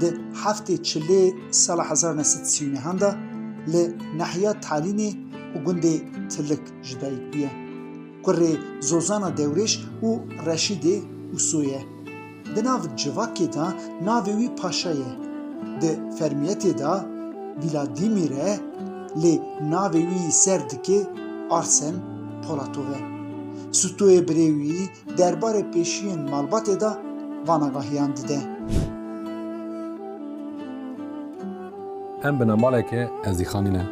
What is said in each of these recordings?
Di heftê çilê sala hezar ne sed sî û neh an de li nehiya Talînê û gundê Tilik ji dayik bûye. Kurê Zozana Dewrêş û Reşîdê Uso ye. Di nav civakê de navê wî Paşa ye. Di fermiyetê de Vîladîmîr e lê navê wî ser dikê Arsen Polatov e. Sutoyê birê wî derbarê pêşiyên malbatê de van agahiyan dide. Em binambaleke ez dîxanî ne.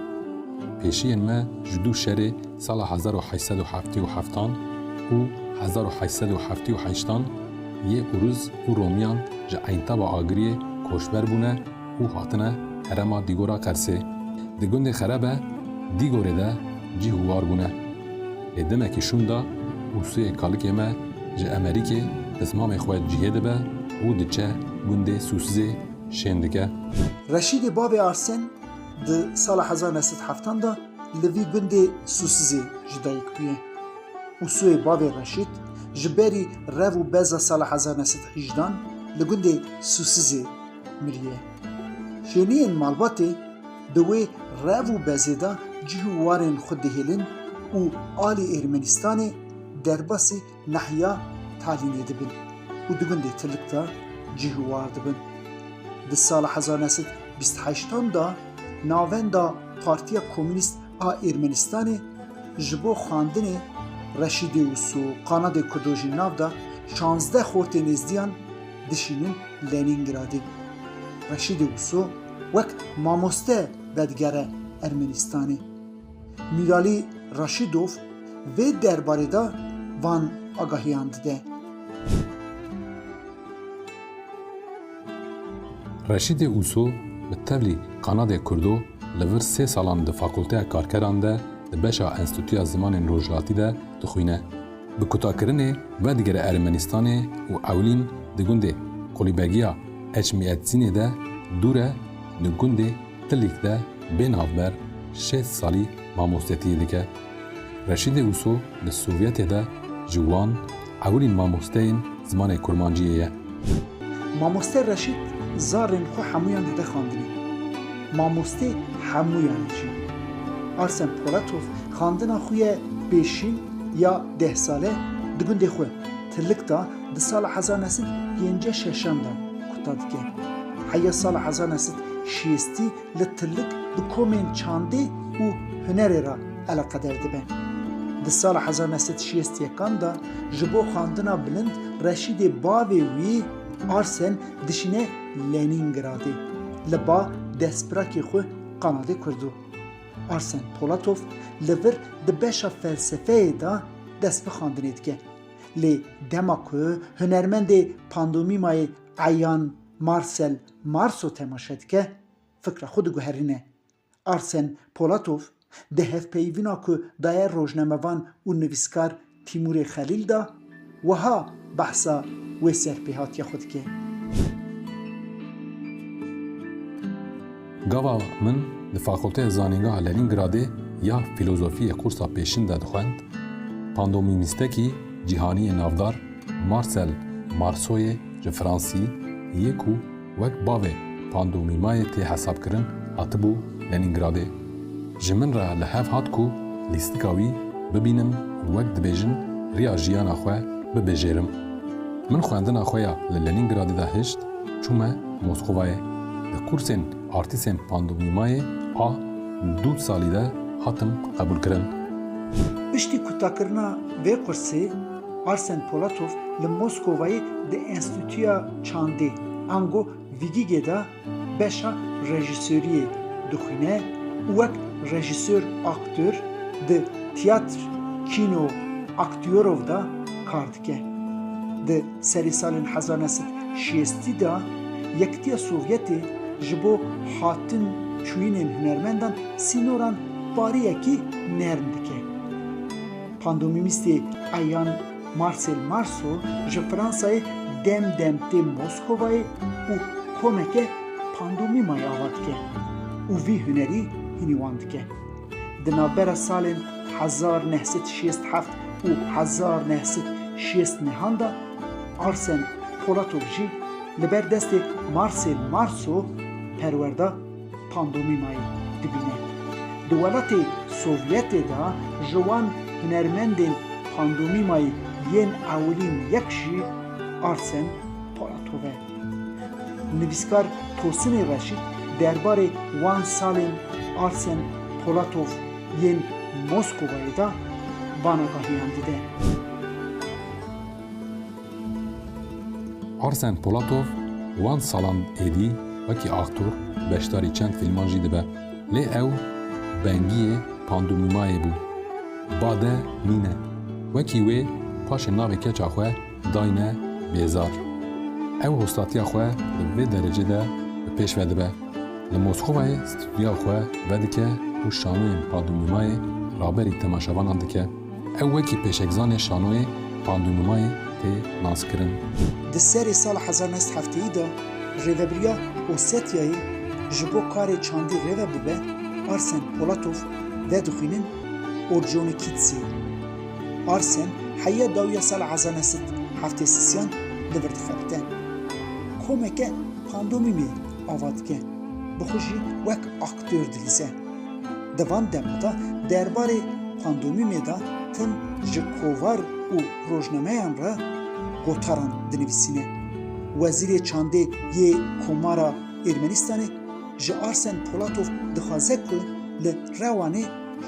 Pêşiyên me ji du şerê sala hezar û heşt sed û heftê û heftan û hezar û heşt sed û heftê û heştan yê Uruz û Romiyan ji Eintaba Agiriyê koçber bûne, û hatine herema Dîgora Qersê. Di gundê Xerebe Dîgorê de cîh û war bûne. Lê demekî şûn da û sûyê kalikê me ji Emerîkê bi zimamê xwe cihê dibe û diçe gundê Sûsizê şên dike. Reşîdê bavê Arsên di sala hezar ne sed heftan de li vî gundê Sûsizê ji dayik bûye û sûyê bavê Reşîd ji berî rev û beza sala hezar ne sed hîjdan li gundê Sûsizê Miriye. Hêniyên malbatê di wê rev û bezê de cih û warên xwe dihêlin û alî Ermenistanê derbasî nehiya talînê dibin û di gundê Tilik de cih û war dibin. Di sala hezar neh sed bîst heştan de navenda Partiya Komînîst a Ermenistanê ji bo xwendinê Reşîdê û Su qanadê Kurdo jî nav da şazdeh xortê nêzdiyan, dişînin Lenîngradê. Reşîdê Wûso wek mamoste vedigere Ermenîstanê. Mîralî Raşîdov vê derbarê de van agahiyan dide. Reşîdê Wûso bi tevlî Qanadê Kurdo li vir sê salan di Fakulteya Karkeran de di beşa Enstîtuya Zimanên Rojhilatî de dixwîne. Bi kutakirinê vedigere Ermenistanê û ewlîn di gundê Qulîbegiya Eçmîetzînê de dûr e di gundê Tilîk de bê navber şêst salî mamostetiyê dike. Reşîdê Uso li Sovyetê de ji wan ewilîn mamosteyên zimanê kurmanciyê ye. Mamoste Reşît zarên xwe hemûyan dide xandinê. Mamoste hemûyan e jî. Arsen Polatov xandina xwe ye pêşîn ya deh sale di gundê xwe Tilik da di sala hezar nesit pêncî şeşan de kuta dike. Heya sala hezar nesit şêstî li tilik bi komên çandê û hunerê re eleqeder dibe. Di sala hezar neh sed û şêst yekan de ji bo xwendina bilind Reşîdê bavê wî Arsen dişîne Lenîngradê li ba destpirakê xwe Qanadê Kurdo. Arsen Polatov li vir di beşa felsefeyê de dest bi xwendinê dike. Lê dema ku hunermendê pandomîmayê eyan Marcel Marso temaşe dike, fikra xwe diguherîne. Arsen Polatov di hevpeyivîna ku daye rojnamevan û nivîskar Tîmurê Xelîl de wiha behsa wê serpêhatiya xwe dike. Gava min di Fakulteya Zanîngeha Lenîngradê ya Fîlozofiyê qûrsa pêşîn de dixwend, pandomîmîstekî cîhanî yê navdar Marsel Marsoyê Ji Fransî yê ku wek bavê pandomimayê tê hesabkirin hatibû Lenîngradê, ji min re li hev hat ku lîstika wî bibînim û wek dibêjin riya jiyana xwe bibijêrim. Min xwendina xwe ya li Lenîngradê de hişt, çûme Moskovayê. Di kursên artîsên pandomimayê a du salî de hatim qebûlkirin. Piştî kotakirina vê kursê, Arsen Polatov li Moskovayê di Enstîtuya Çandê ango Vigîgê de beşa rejîsoriyê dixwîne û wek rejîsor aktör di Tiyatr Kîno Aktyorov de kar dike. Di serê salên hezar neh sed şêstî de Yekitiya Sovyetê ji bo hatin çûyînên hunermendan sînoran pariyekî nerm dike. Pandomîmîstê eyan Marcel Marceau ji Fransayê dem dem tê Moskovayê û komeke pandomîmayê ava dike û vî hunerî hînî wan dike. Di navbera salên hezar neh sed şêst heft û hezar neh sed şêst nehan de Arsen Polatov jî li ber destê Marcel Marceau perwer da. pandomimayê dibîne. Di welatê Sovyetê de ji wan hunermendên pandomimayê yên ewilîn yek jî Arsen Polatov e. Nivîskar Tosinê Reşît derbarê wan salên Arsen Polatov yên Moskovayê de vanagahîyan dide. Arsen Polatov wan salan êdî wekî aktor beşdarî çend fîlman jî dibe lê ew bengiyê pandûmîmayê bû. Bade nîne wekî wê paşê navê keça xwe dayne Bêzar. Ew hostatiya xwe di vê derecê de bi pêş ve dibe. Li Moskovayê stûdyoya xwe vedike û şanoyên pandûmîmayê raberî temaşevanan dike. Ew wekî pêşexanê şanoyê Pandûnumayê tê naskirin. Di serê sala hezar neh sed hefteyî de rêvebiriya Osetyayê ji bo karê çandî rêve bibe, Arsen Polatov vedixwînin Orconikidze. Arsen heya dawiya sala hezar neh sed heftê sisiyan li vir dixebite. Komeke pandomîmê ava dike, bi xwe jî wek aktör dilîze. Di van dema de derbarê pandomîmê de tim ji kovar û rojnameyan re gotaran dinivîsîne. Wezîrê Çandê yê Komara Ermenistanê ji Arsen Polatov dixwaze ku li Rewanê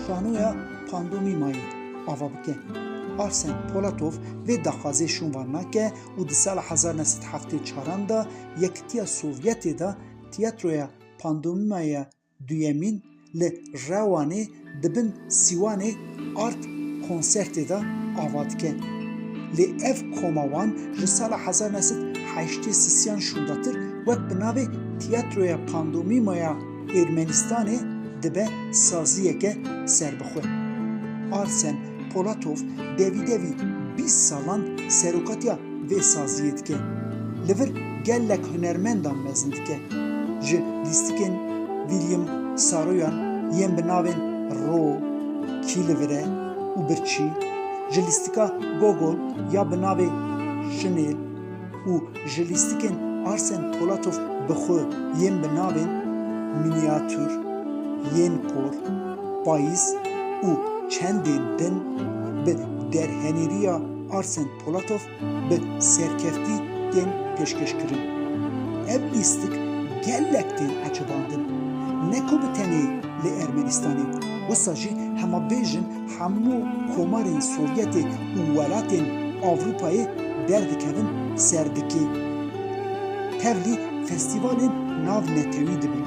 şanoya pandomîmayê ava bike. Arsen Polatov vê daxwazê şûnvan nake û di sala hezar neh sed û heftê û çar an de Yekitiya Sovyetê de Tiyatroya Pandomîmayê Duyemîn li Rewanê di bin sîwanê Art konsertê de ava dike. Lê ev koma wan ji sala hezar neh sed heştê sisiyan şûndatir wek bi navê Tiyatroya Pandomîmaya Ermenistanê dibe saziyeke serbixwe. Arsen Polatov devî devî bîst salan serokatiya vê saziyê dike. Li vir gelek hunermendan mezin dike. Ji lîstikên William Saroyan yên bi navên Ro, Kîlivire û Birçî, ji lîstika Gogol ya bi navê Şinêl, û ji lîstikên Arsen Polatov bi xwe yên bi navên Miniatür, Yên Kor, Payîz û Çendên Din bi derhenîriya Arsen Polatov bi serkeftî tên pêşkêşkirin. Ev lîstik gelek tên ecebandin, ne ku bi tenê li Ermenistanê, wisa jî hema bêjin, Hemû komarên Sovyetê û welatên Ewropayê derdikevin ser dikê. Tevlî festîvalên navnetewî dibin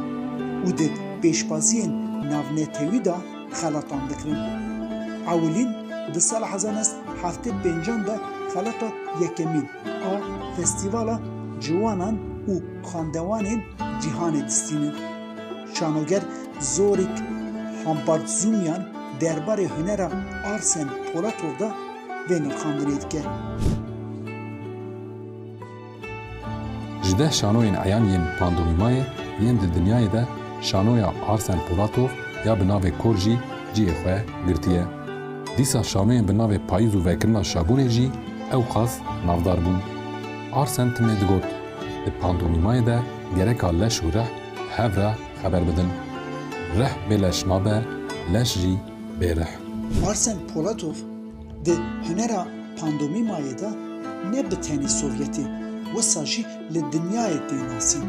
û di pêşbaziyên navnetewî de xelatan dikirin. Ewilîn di sala hezar neh sed û heftê û pênc an de xelata yekemîn a Festîvala Ciwanan û Xandewanên Cîhanê distînin. Şanoger Zorik Hampartzumyan derbarê hunera Arsen Polatov de vê nirxandinê dike. Ji deh şanoyên eyan yên pandomimayê yên di dinyayê de şanoya Arsen Polatov ya bi navê Kor jî cihê xwe girtiye. Dîsa şanoyên bi navê Payîz û Vekirina Şabûnê jî ewqas navdar bûn. Arsen timê digot, Di pandomimayê de gereka leş û rih Hev re xeber bidin. Rih bê leş nabe, leş jî bê rih. Marcel Polatov di hunera pandomîmayê de ne bi tenê Sovyetê wisa jî li dinyayê tê nasîn.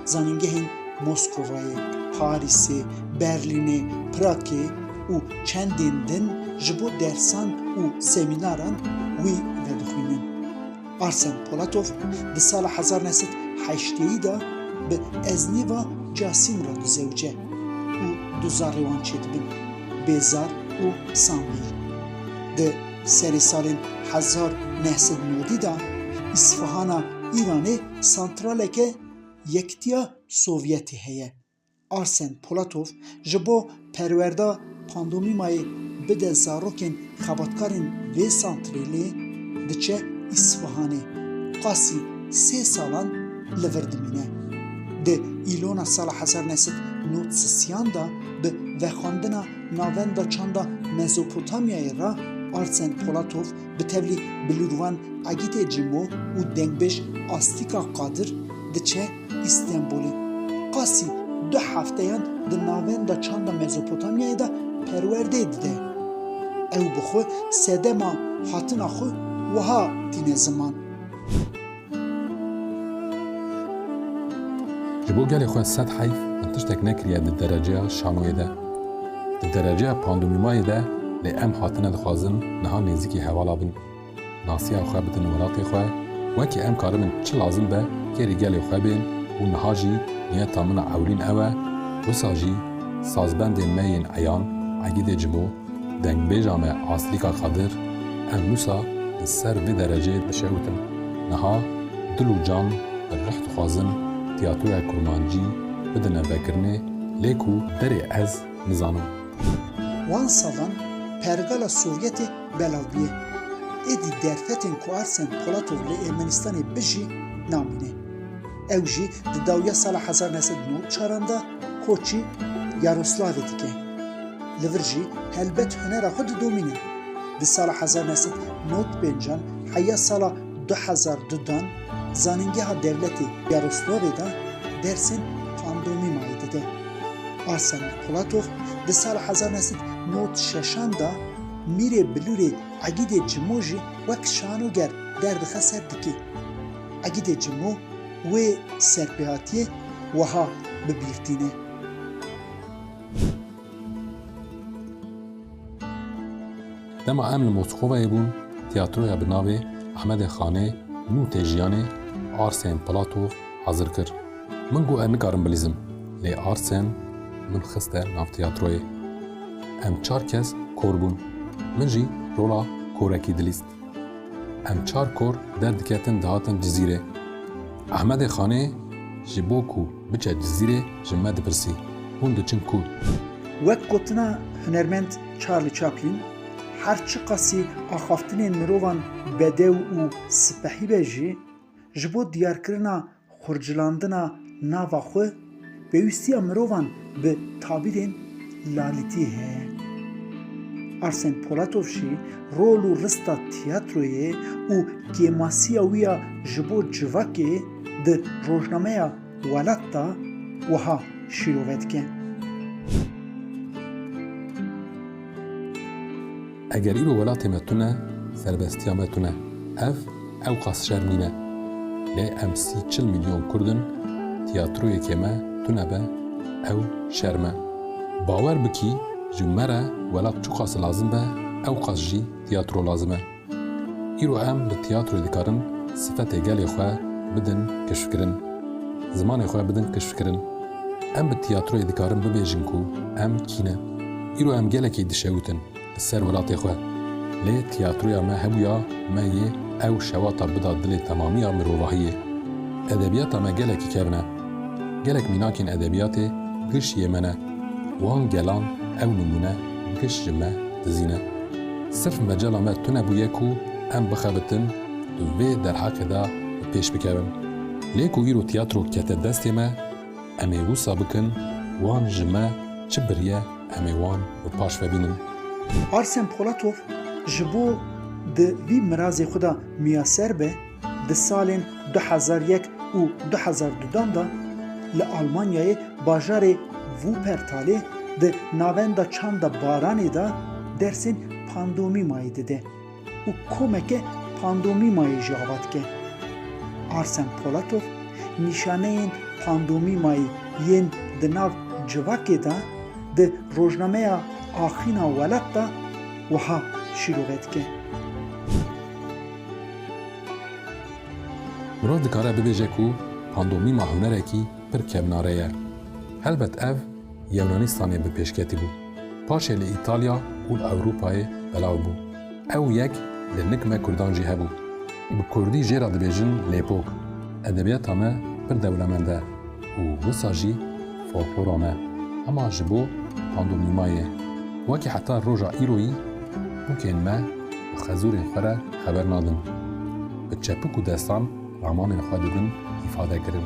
Zanîngehên Moskovayê, Parîsê, Berlînê, Pragê û çendên din ji bo dersan û semînaran wî vedixwînin. Arsen Polatov di sala hezar neh sed heşteyî de bi eznî va Casîm re du zewc e û du zarê wan çêdibin, Bêzar û Samîr. Di serê salên hezar neh sed û nodî de Îsfahana Îranê santraleke Yektiya Sovyetê heye. Arsen Polatov ji bo perwerda pandomîmayê bide zarokên xebatkarên vê santrêlê diçe Îsfihanê. Qasî sê salan li vir dimîne. Di Îlona Sala Hezar Nesit Nod Sisyan de bi vexwendina Navenda Çanda Mezopotamyayê re Arsen Polatov bi tevlî bilûrvan Egîtê Cîmo û dengbêj Astîka Qadir diçe Îstenbûlê. Qasî du hefteyan di navenda çanda Mezopotamyayê de perwerdeyê dide. Ew bi xwe sedema hatina xwe wiha tîne ziman. Ji bo gelê xwe sed heyf min tiştek nekiriye di dereceya şanoyê de. Di dereceya pandûmîmayê de lê em hatine dixwazin niha nêzîkî hevala bin. Nasiya xwe bidin welatê xwe, wekî em karibin çi lazim be kêrî gelê xwe bên û niha jî niyeta min a ewlîn ew e, wisa jî sazbendên me yên eyan Egîdê Cimo, dengbêja me Aslîka Kadir, ev wisa li ser vê dereceyê dişewitin, niha dil û can bi rih dixwazin tîyatroya kurmancî bidine vekirinê lê ku derê ez nizanim. Wan salan pergala Sovyetê belav bûye. Êdî derfetên ku Arsen Polatov li Ermenistanê bijî namîne. Ew jî di dawiya sala hezar neh sed û newî çaran de koçî Yaroslavê dike. Li vir jî helbet hunera xwe didomîne. Di sala hezar neh sed û newî pênc an heya sala du hezar du dan Zanîngeha Dewletê Yaroslavê de dersên pandomimayê dide. Arsen Polatov di sala hezar neh sed û newî şeş an de, Mîrê Bilûrê Egîdê Cimo jî wek şanoger der dixe ser dikê. Egîdê Cimo wê serpêhatiyê wiha bi bîr tîne. Dema em li Moskovayê bûn tîyatroya bi navê Ahmedê Xanê nû tê jiyanê, arsên Plato, hazir kir. Min got ez nikarim bilîzim, lê Arsen min xiste nav tiyatroyê. Em çar kes kor bûn, min jî rola korekî dilîst. Em çar kor derdiketin dihatin Cizîrê. Ehmedê Xanê ji bo ku biçe Cizîrê ji me dipirsî, hûn diçin ku? Wek gotina hunermend Charlie Chaplin, her çiqasî axaftinên mirovan bedew û sipehî be jî, Ji bo diyarkirina xurcilandina nava xwe, pêwîstiya mirovan bi tabîrên lalîtî heye. Arsen Polatovşî rol û rista tîyatroyê û kêmasiya wî ya ji bo civakê di rojnameya Welat de wiha şîrove dike. Eger îro welatê me tune, serbestiya me tune. Ev ewqas şerm nîne. Lê em sî çil milyon kurd in, tiyatroyekê me tune be, ew şerm e. Bawer bikî ji me re welat çiqas lazim be, ewqas jî tiyatro lazim e. Îro em li tiyatroyê dikarin sifetê gelê xwe bidin keşfkirin, zimanê xwe bidin keşfkirin. Em bi tiyatroyê dikarin bibêjin ku em kî ne. Îro em gelekî dişewitin li ser welatê xwe. Lê tiyatroya me hebûya me yê ew şewata bida dilê temamiya mirovahiyê. Edebiyata me gelekî kevn e. Gelek mînakên edebiyatê giş yê me ne. Wan gelan ew nimûne giş ji me dizîne. Sirf mecala me tune bûye ku em bixebitin tu vê derheqê de bi pêş bikevin. Lê ku îro tiyatro kete destê me, em ê wisa bikin wan ji me çi biriye em ê wan bi paş ve bînin. Arsen Polatov ji bo di vî mirazê xwe de miyaser be, di salên du hezar yek û du hezar du dan de li Almanyayê bajarê Wuppertalê di navenda çanda Baranê de dersên pandomimayê dide. û komeke pandomîmayê jî ava dike. Arsen Polatov nîşaneyên pandomîmayê yên di nav civakê de di rojnameya Axîna Welat de wiha şîrove dike. Mirov dikare bibêje ku pandomîma hunerekî pir kevnare ye. Helbet ev Yunanistanê bi pêşketî bû. Paşê li Îtalya û li Ewropayê belav bû. Ew yek li nik me Kurdan jî hebû. Bi Kurdî jê re dibêjin lêpok. Edebiyata me pir dewlemend e û wisa jî folklora me. Hema ji bo pandomîmayê. Wekî heta roja îroyî pokên me bi xezûrên xwe re xeber nadin. Bi çepik û destan ramanên xwe didin îfadekirin.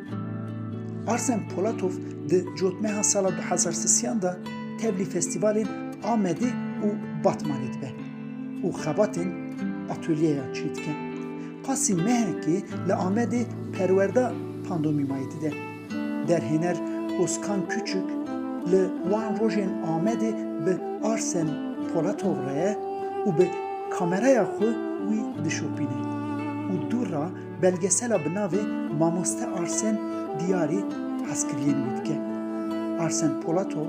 Arsen Polatov di cotmeha sala du hezar sisiyan de tevlî festîvalên Amedê û Batmanê dibe û xebatên atolyeyan çê dike. Qasî mehekê li Amedê perwerda pandomîmayê dide. Derhêner Ozkan Küçük li wan rojên Amedê bi Arsen Polatov re ye û bi kameraya xwe wî dişopîne û dû re Belgesela bi navê Mamoste Arsen Diyarî hezkiriyên wî dike. Arsen Polatov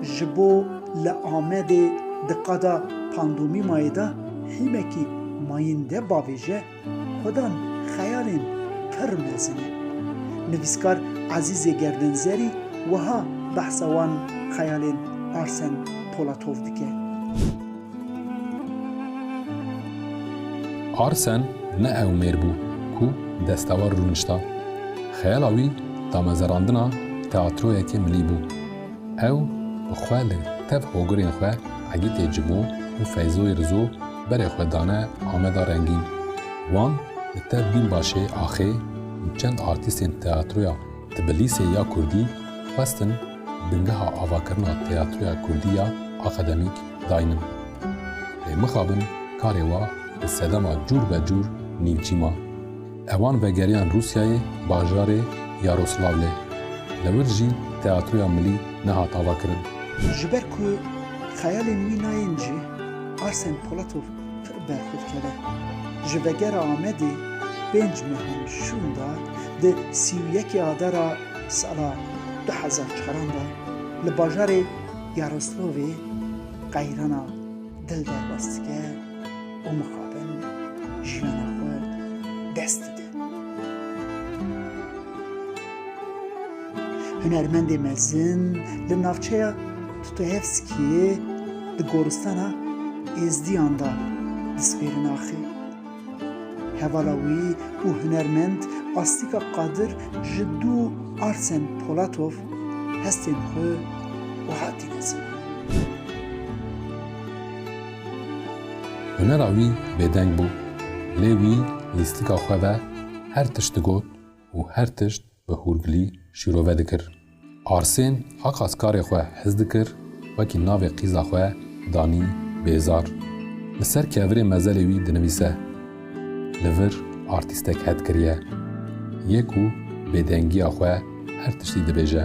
ji bo li Amedê di qada pandomîmayê de hîmekî mayînde bavêje, xwedan xeyalên pir mezin e. Nivîskar Ezîzê Gerdenzerî wiha behsa wan xeyalên Arsen Polatov dike. Arsen ne ew mêr bû ku destewar rûnişta. Xeyala wî damezerandina teatroyekê milî bû. Ew bi xwe li tev hogirên xwe Egîtê Cimo û Feyzoyê Rizo berê xwe dane Ameda Rengîn. Wan li tev Bînbaşê Axê û çend artîstên teatroya Tbilîsê ya Kurdî xwestin bingeha avakirina teatroya Kurdî ya akademîk, Daynim. Lê mixabin karê wa bi sedema cûr be cûr nîvcî ma. Ewan vegeriyan Rûsyayê bajarê Yaroslavlê. Li wir jî Teatroya Milî nehat ava kirin. Ji ber ku xeyalên wî nayên cî, Arsen Polatov pir berxwe dikeve. Ji vegera Amedê pênc mehan şûn da di sî û yekê adara sala du hezar çaran de li bajarê, Yaroslavê qeyrana dil derbas dike û mixabin jiyana xwe dest dide. Hunermendê mezin li navçeya Tutoyevskiyê di goristana Êzdiyan de dispêrin axê. Hevala wî û hunermend Astika Qadir ji dû Arsen Polatov hestên xwe wiha tîne ziman. Hunera wî bêdeng bû, lê wî lîstika xwe ve her tişt digot û her tişt Bi hûrgilî şîrove dikir. Arsên a qas karê xwe hez dikir, wekî navê qîza xwe danî Bêzar. Li ser kevirê mezelê wî dinivîse. Li vir artîstek het kiriye. Yê ku bêdengiya xwe her tiştî dibêje.